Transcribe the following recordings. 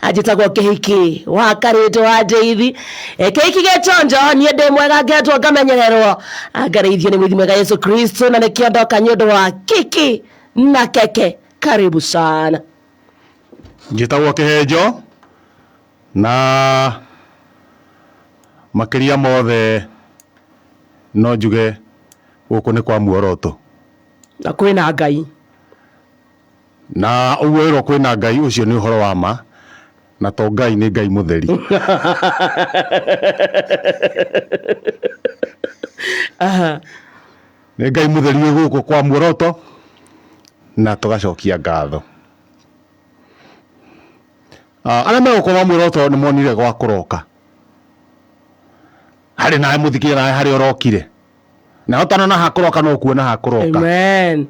anjĩtagwo kĩhiki wa karĩtũ wa ndĩithi E, kĩhiki gĩtonjo niĩ ndĩ mwega ngetwo ngamenyererwo angareithio nĩ mwithi mwega yesu kristo na nĩkĩo ndoka nĩ ũndũ wa kiki na keke karibu sana njĩtagwo kĩhenjo na makĩria mothe no njuge gũkũ nĩ kwa muoroto na kwĩna ngai Na ũguo wĩrwo kwĩna Ngai ũcio nĩ ũhoro wa ma na to Ngai nĩ Ngai mũtheri. Nĩ Ngai mũtheri wĩ gũkũ kwa muoroto na tũgacokia ngatho. Arĩa me gũkũ kwa muoroto nĩ monire gwa kũroka. Harĩ nawe mũthikĩria nawe harĩa ũrokire. Na ũtanona ha kũroka no kuona ha kũroka. Amen.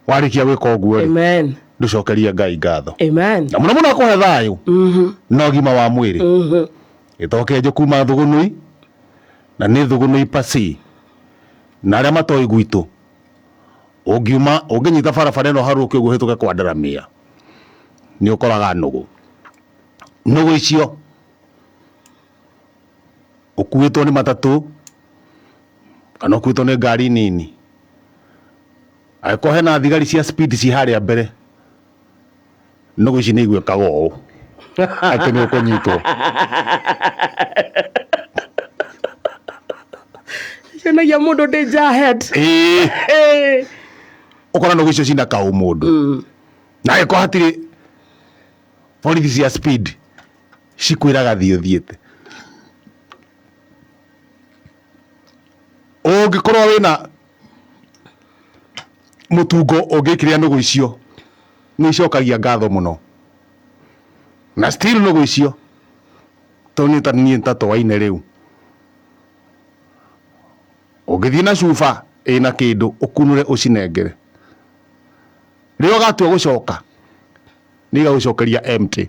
warĩkia gwĩka ũguo-rĩ Amen. ndũcokerie ngai ngatho Amen. na mũno mũno akũhe thayũ Mhm. na ũgima wa mwĩrĩ Mhm. gĩtokenje kuma thũgũnũi na nĩ thũgũnũi pasi na arĩa matoĩ gwitũ ũngiuma ũngĩnyita barabara ĩno harũke ũguo hĩtũke kwa ndaramia nĩ ũkoraga nũgũ nũgũ icio ũkuĩtwo nĩ matatũ kana ũkuĩtwo nĩ ngari nini, angĩkorwo hena thigari cia speed ciĩ harĩa mbere, nũgũ ici nĩ igwĩkaga ũũ atĩ nĩ ũkũnyitwo. Cionagia mũndũ danger ahead. Ĩĩ, Ĩĩ. ũkona nũgũ icio cina kaũ mũndũ na angĩkorwo hatirĩ borithi cia speed cikwĩraga thiĩ ũthiĩte. Ũngĩkorwo wĩna mũtungo ũngĩkĩrĩa nũgũ icio nĩ icokagia ngatho mũno na still nũgũ icio to niĩ ta niĩ ta toaine rĩu, ũngĩthiĩ na cuba ĩna kĩndũ ũkunũre ũcinengere, rĩrĩa ũgatua gũcoka nĩ igagũcokeria empty.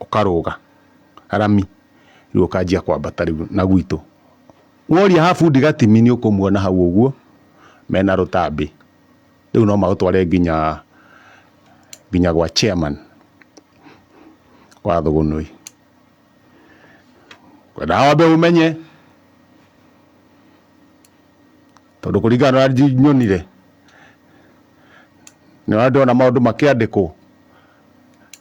ũkarũga rami rĩu ũkanjia kwambata rĩu na gwitũ. Woria ha bundi Gatimi nĩ ũkũmuona hau ũguo mena rũtambĩ. Rĩu no magũtware nginya nginya gwa chairman wa Thũgũnũi. Ngwendaga wambe ũmenye tondũ kũringana na ũrĩa nyonire nĩ ũrĩa ndĩrona maũndũ makĩandĩkwo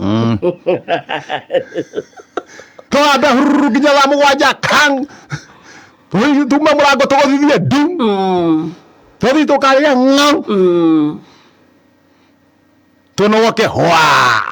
Mm. twambe hururu nginya thaa mũgwanja kang tume mũrango tũgũthithie ndu Mm. tũthi tũkarĩa ng'au Mm. tũnogoke hwa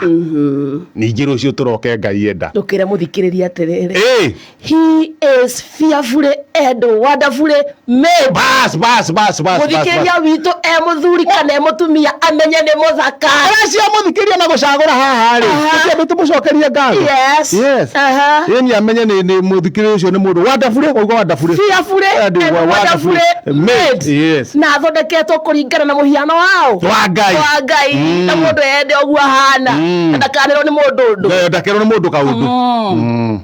Mhm. ningĩ rũciũ tũroke ngai enda ndũkĩre mũthikĩrĩria atĩrĩrĩ Ĩĩ. He is fearfully and wonderfully made. bas bas bas bas Mũthikĩria witũ e mũthuri kana e mũtumia amenye nĩ mũthaka. aracia mũthikĩria na gũcagũra haha rĩ Aha. ũcio andũ tũmũcokerie ngatho Yes. Yes. Aha. yeni amenye nĩ nĩ mũthikĩria ũcio nĩ mũndũ wandabure wauga wandabure Fearfully and And wa- wonderfully made. Yes. Na athondeketwo kũringana na mũhiano wao. wa ngai Wa Ngai. Mm. Na mũndũ ende ũguo ahana. Mm. Na ndakanĩrwo nĩ mũndũ ũndũ. ndakerwo nĩ mũndũ kaũndũ Mm.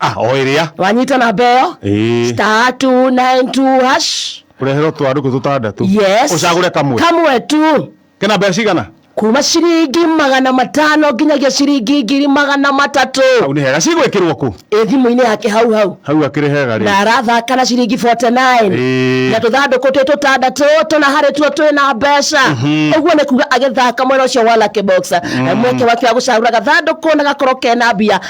ah o ĩrĩa wanyita namba ĩyo Ĩĩ. star 292 hash ũreherwo twarũkũ tũtandatũ yes ũcagũre kamwe kamwe tu kena mbeca cigana kuma ciringi magana matano nginyagia ciringi ngiri magana hau matatũ nĩ hega cigwĩkĩrwo kũ ĩ thimũ-inĩ yake hau hau hau akĩrĩ hega rĩ na arathaka na ciringi 49 Ĩĩ. na tũthandũkũ twĩ tũtandatũ tũna harĩ tuo twĩ na mbeca ũguo nĩ kuga agĩthaka mwena ũcio wa lucky box mweke wake wa gũcagũra gathandũkũ na gakorwo kena mbia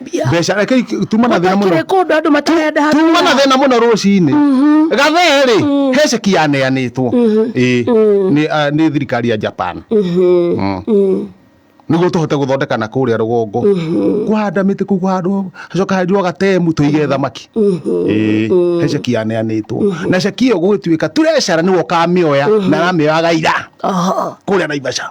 Mbia. mbeca reke ik- tuma na thĩna mũno Gũtakĩrĩ kũndũ andũ matarenda handũ tuma na ha- thĩna mũno rũcinĩ gathee rĩ he ceki yaneanĩtwo Ĩĩ, nĩ ah, nĩ thirikari ya japan Mm. nĩguo tũhote gũthondeka na kũrĩa rũgongo kũhanda mĩtĩ kũu handũ hacoka henjwo gatemu tũige thamaki Ĩĩ, he ceki yaneanĩtwo na ceki ĩyo gũgĩtuĩka turecera nĩwe ũkamĩoya na aramĩoya gaira Oho. kũrĩa naivasha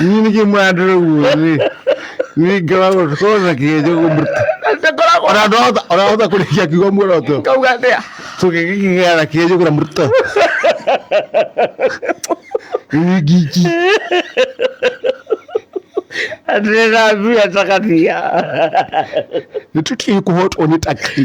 niĩ nĩkĩ mũrandora guo rĩ niĩ ngoragwo korwo na kĩgejo kũmũruta ndakoragwo ona ndorahota orahota kũrĩkia kiugo muoroto kauga atĩa tũgĩgĩkĩgera na kĩgejo kũra mũruta niĩ ngiki ndĩrathuya cakatia nĩ tũtiĩ kũhotwo nĩ taki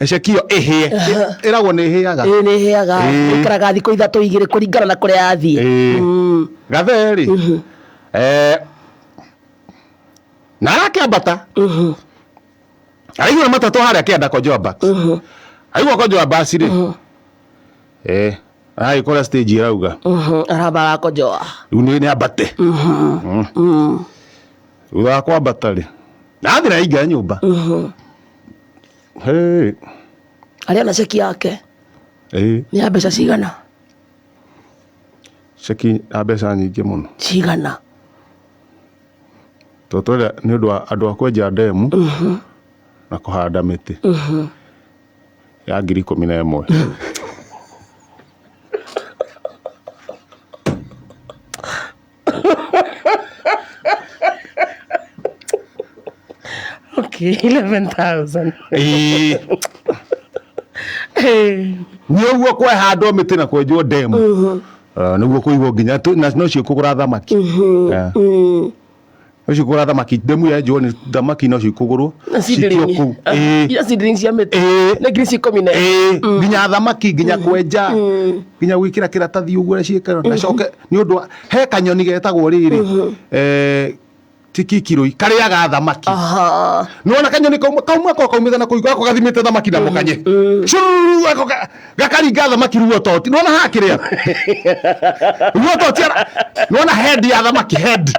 Ecekio ĩhĩe. Ĩ- Ĩragwo nĩ ĩhĩaga. ĩĩ nĩ ĩhĩaga Ĩĩ. ĩikaraga thikũ ithatũ igĩrĩ kũringana na kũrĩa yathiĩ Ĩĩ. Mm. Gatheri. Eh, na arakĩambata. Araigua matatũ harĩa kĩanda kwa Joaba. Aigua kwa Joaba acirĩ. Eh, aragĩkora stage ĩrauga. Mhm, arabara kojoa Rĩu nĩ nĩ ambate. Mm. Thutha wa kwambata rĩ. Na athiĩ na aingira nyũmba. Hey. Arĩa na ceki yake. Hey. Nĩ ya mbeca cigana? Ceki ya mbeca nyingĩ mũno. Cigana? Tondũ twenda nĩ ũndũ wa andũ a kwenja ndemu mhm. na kũhanda mĩtĩ mhm. ya ngiri ikũmi na ĩmwe. okay, 11,000. Ĩĩ. Eh, nĩ ũguo kwehandwo mä tä na kwenjwo ndemu nä guo kå igwo nginya tũ- na no cio kå gå ra thamaki Eh. mm, ũcio kũgũra thamaki ndemu ya njũa nĩ thamaki no cikũgũrwo Na ci citio ndĩrĩng'i. kũu Ah, Ĩĩ. iria ci ndĩrĩng'i cia mĩtĩ Ĩĩ. nĩ ngiri ci ikũmi na Ĩĩ, Mm. nginya thamaki nginya kwenja Mm. nginya gwikira kiratathi uguo na ciikara na coke ni undu he kanyoni getagwo riri eh tikikiroi kariaga thamaki Aha. nona kanyoni kauma kauma ko kaumithana kuiga ko gathimite thamaki na mukanye Mm. Shururu, ako ka- gakaringa thamaki ruo toti nona haha kä rä a ruo toti ara- nona head ya thamaki head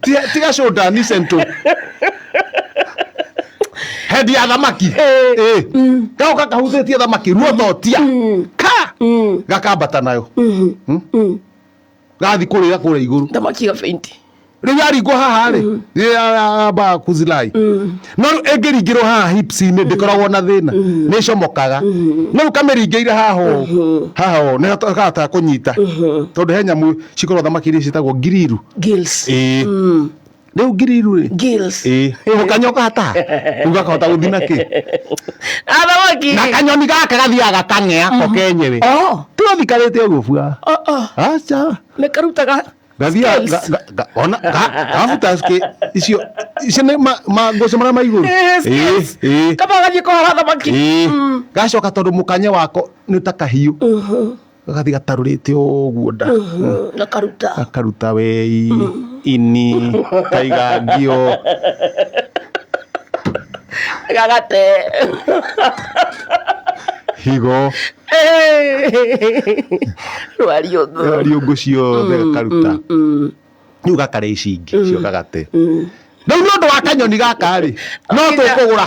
Ti- tiga shoulder ni sento head ya thamaki Eh. gako gakahuthä tie thamaki ruo totia ka gakambata nayo gathi kurira kuria iguru thamaki ya faint riu yaringwo haha ri yamba kuzilai no riu ingiringirwo haha hips-inĩ ndikoragwo na thina nĩ comokaga no riu kamĩringĩire haha ũũ haha ũũ nĩ kahota kũnyita tondũ he nyamũ cikorwo thamaki iria ciĩtagwo ngiriru gills ĩĩ rĩu ngiriru rĩ Gills. ĩ ĩ, kanyoka hata rĩu gakahota gũthiĩ na kĩ Athamaki. na kanyoni gaka gathiaga kang'ea ko kenyewe Oh, tũgathikarĩte ũguo bua oh, oh. aca Nĩ karutaga gathiaga scales. ga- ga- ga- ona ga- gabuta ske- icio icio nĩ ma- mangũcĩ marĩa ma igũrũ Eh, scales. Ĩ, ĩ, Kaba gathiĩ kũhara thamaki. ĩ. Mm. gacoka tondũ mũkanye wako nĩ ta kahiũ Mhm. gagathiĩ gatarũrĩte ũguo nda gakaruta gakaruta wei ini kaigangio gagate higo rwariũngũ riũngũ ciothe gakaruta rĩu gakarĩa ici ingĩ cio gagate rĩu nĩ ũndũ wa kanyoni gaka rĩ no tũkũgũra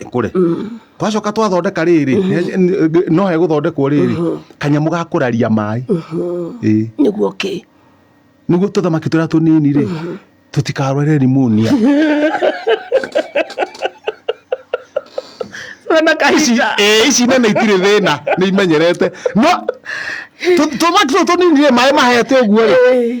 ĩkũre mm. twacoka twathondeka rĩrĩ mm-hmm. no hegũthondekwo rĩrĩ mm-hmm. kanyamũ ga kũraria maĩ mm-hmm. nĩguo kĩ nĩguo tũthamaki tũrĩa tũnini rĩ tũtikarware rimonia ici nene itirĩ thĩna nĩ imenyerete no tũthamaki tũtũ tũnini rĩ maĩ mahete ũguo rĩ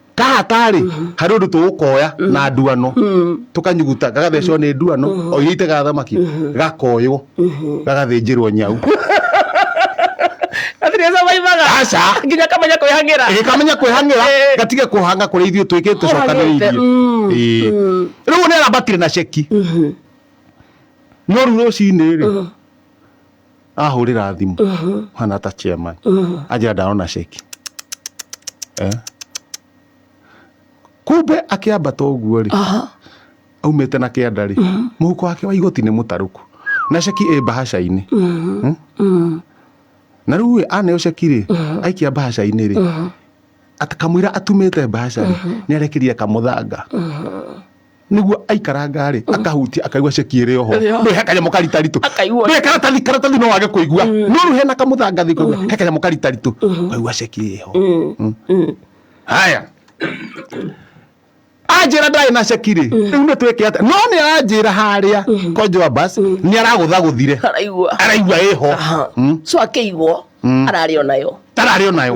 kahatarĩ harĩ ũndũ tũgũkoya na nduano tũkanyuguta gagathecwo nĩ nduano o iria itegaga thamaki gakoywo gagathĩnjĩrwo nyau aca nginya kamenya kwĩhang'ĩra gĩkamenya kwĩhang'ĩra Eh. gatige kũhanga kũrĩa ithuĩ twĩkĩte Kũhang'ĩte, cokanĩrĩirie mm, Ĩĩ. rĩu nĩ arabatire na ceki no rĩu rũcinĩ rĩ ahũrĩra thimũ hana ta chairman anjĩra ndarona ceki Eh. kumbe akĩambata ũguo rĩ Aha. aumĩte na kĩanda rĩ mũhuko wake wa igoti nĩ mũtarũku na ceki ĩ mbahaca-inĩ Hmm? na rĩu ĩ aneo ceki rĩ aikia mbahaca-inĩ rĩ at- kamũira atumĩte mbahaca rĩ nĩ arekeria kamũthanga nĩguo aikarangarĩ akahutia akaigua ceki ĩrĩ oho Ĩrĩ oho. nĩ he kanyamũ karitaritũ Akaigua- Nĩ karatathi karatathi no wage kũigua no rĩu hena kamũthangathi kaigua he kanyamũ karitaritũ kaigua ceki ĩrĩ ho haya anjĩra ndarĩ na ceki rĩ rĩu nĩ twĩke atĩa no nĩ aranjĩra harĩa kwa joabas nĩ aragũthagũthire araigua araigua ĩho Aha. so akĩigwo ararĩ o nayo tararĩ o nayo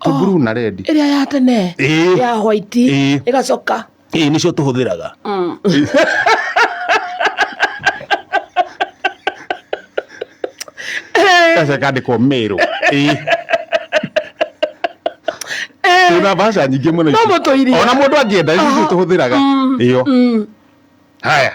Ti Oh. blue na red. ĩrĩa ya tene Ĩĩ. ya white Ĩĩ. ĩgacoka Ĩĩ nĩcio tũhũthĩraga. Gaca kandĩkwo mĩrũ. Ĩĩ. Twĩna mbaca nyingĩ mũno ici. No mũtũirie. Ona mũndũ angĩenda ici nĩcio tũhũthĩraga. Ĩyo. Haya.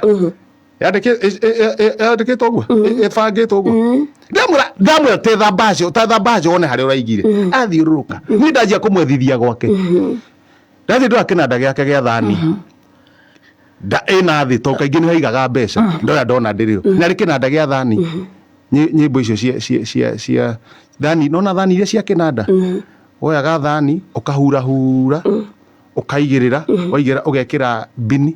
yandĩkĩtwo ũguo ĩbangĩtwo mm. ũguo mm. ndamwĩra ndamwĩra te thambaje ta thambaje wone harĩa ũraigire mm. athiũrũrũka niĩ ndanjia kũmwethithia gwake mm-hmm. ndathiĩ ndora kĩnanda gĩake gĩa thani mm-hmm. nda ĩna thĩ to kaingĩ nĩ haigaga mbeca mm-hmm. ndora ndona ndĩrĩo narĩ kĩnanda gĩa thani nyĩmbo icio cia cia cia cia thani nona thani iria cia kĩnanda woyaga thani ũkahura hura ũkaigĩrĩra waigĩra ũgekĩra bini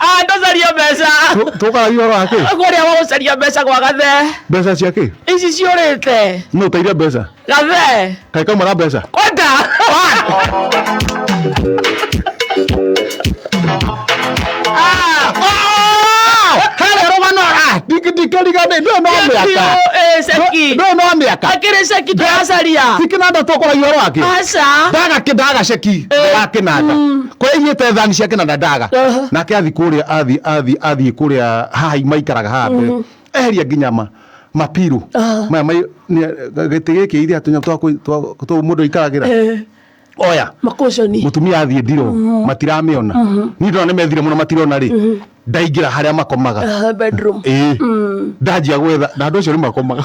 Ah, ndũcaria mbeca. Tũkaga ihoro wa kĩ? Kũrĩa wa gũcaria mbeca gwa gathe. Mbeca cia kĩ? Ici ciũrĩte. Nũ ũteire mbeca? Gathe. Kaĩ kauma na mbeca? Kwenda. ndikirigane ndio no miaka eh seki ndio no miaka akire seki ndacaria sikina ndatokora yoro ake aca ndaga kidaga seki ndaga kinanda kwa ĩigĩte thani ciake na ndandaga Aha. nake athi kũrĩa athi athi athi kũrĩa haha maikaraga haha mbere eheria nginya ma mapirũ Ah. maya mai- nĩ- gĩtĩ gĩkĩ ithe atunya twa kũ- twa- twa mũndũ aikaragĩra Eh, oya makoconi mutumia athiä ndiro matiramĩona niä ndona nä methire må no matirona rä ndaingä ra harä a makomaga Aha, bedroom ä ndanjia gwetha na andå acio nä makomaga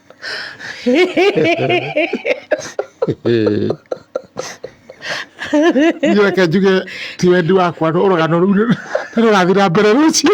Niĩ reke njuge ti wendi wakwa no rũgano rũu nĩ nĩ rũrathiĩ na mbere rũciũ.